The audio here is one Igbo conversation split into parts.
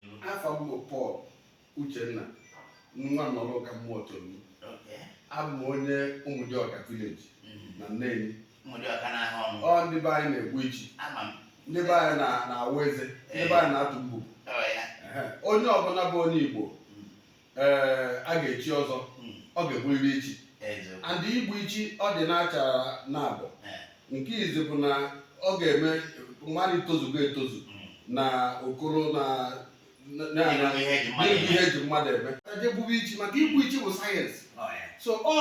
afa m bụ Pọl Uchenna nwa nọrọ ụka Muotolum Okay. abụ m onye Ụmụdịọka village Mm. na Neni Ụmụdịọka n'ahụ ọnụ. ọ ndị be anyị na-egbu ichi Ama m. ndị be anyị na- na-awa eze ndị be anyị na-atụ mbubu Ọ ya. Ehe. onye ọbụla bụ onye Igbo ee a ga-echi ọzọ Mm. ọ ga-egburiri ichi Eziokwu. and igbu ichi ọ dị n'achara naabọ Eh, nke izi bụ na ọ ga-eme mmadụ tozugo etozu mm. na okoro na na- na- Ịnụ na- ihe eji mmadụ na-ebu eme. ihe eji mmadụ eme e jee gbube ichi maka igbu ichi bụ sayensị Ọ ya. so ọ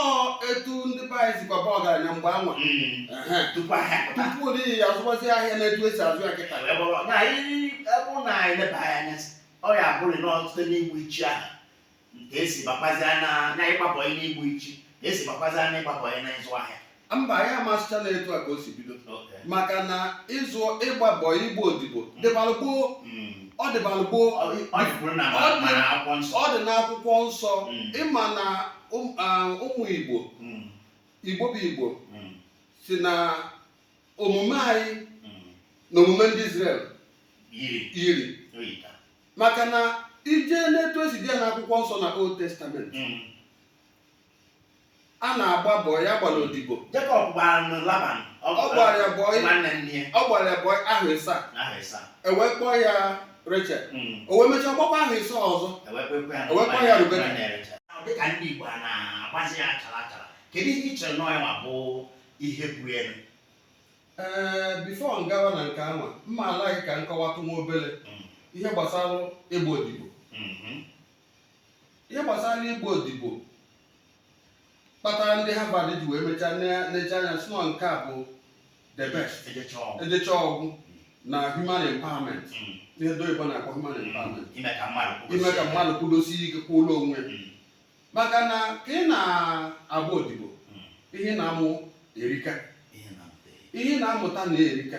etu ndị be anyị sikwa baa ọgaranya mgbe anwa Mm. Ehe. Tupu ahịa pụta. tupu anyị azụbazi ahịa na-etu esi azụ ya kịta Wee bụrụ na anyị- ọ bụrụ na anyị leba anya ọ ya abụrụ na ọtụtụ n'igbu ichi ahụ ka esi bakwazi na na ịgba bọị n'igbu ichi ka esi bakwazi na ịgba bọị na ịzụ ahịa mba a ma-asịcha na etu a ka o si bido Okay. maka na ịzụ ịgba bọị ịgba odibo dịbalụ gboo Mm. ọ dịbalụ gboo Ọ ọ dịkwuru na Ọ dị- mana akwụkwọ nsọ ọ dị n'akwụkwọ nsọ Mm. ịma na ụm- ah, ụmụ igbo Mm. igbo bụ igbo Mm. si na omume anyị mm. na omume ndị Izrel yiri maka na i jee n'etu esi dee ya n'akwụkwọ nsọ na Old Testament mm. a na-agba bọị a gbara odibo Jacob gbara Laban ọ gbara ya bọị ahọ ịsaa ewee kpọọ ya Rachel mm. o wee mechaa gbakwa ahọ ịsaa ọzọ ewee kpọọ ya Rebeka dịka ndị Igbo a na-agbazi ya achara achara kedu ihe ị chere na ọ ya ma bụ ihe bụ uru ee before m gawa na nke anwa mma alaghị ka m kọwatụ nwa obere Mm. ihe gbasara ịgba odibo Mhm. ihe gbasara ịgba odibo kpatara ndị Harvard ji wee mechaa ne- nechaa anya sị na nke a bụ the best ejechaa ọ gwụ ejechaa ọ gwụ na human empowerment Mm. ihe ndị oyibo na-akpọ human empowerment ime ka mmadụ kwụrụ ime ka isi. mmadụ kwudosie ike kwụrụ onwe ya Mm. maka na ka ị na-agba odibo ihe ị na-amụ erika ihe ị na-amụta na-erika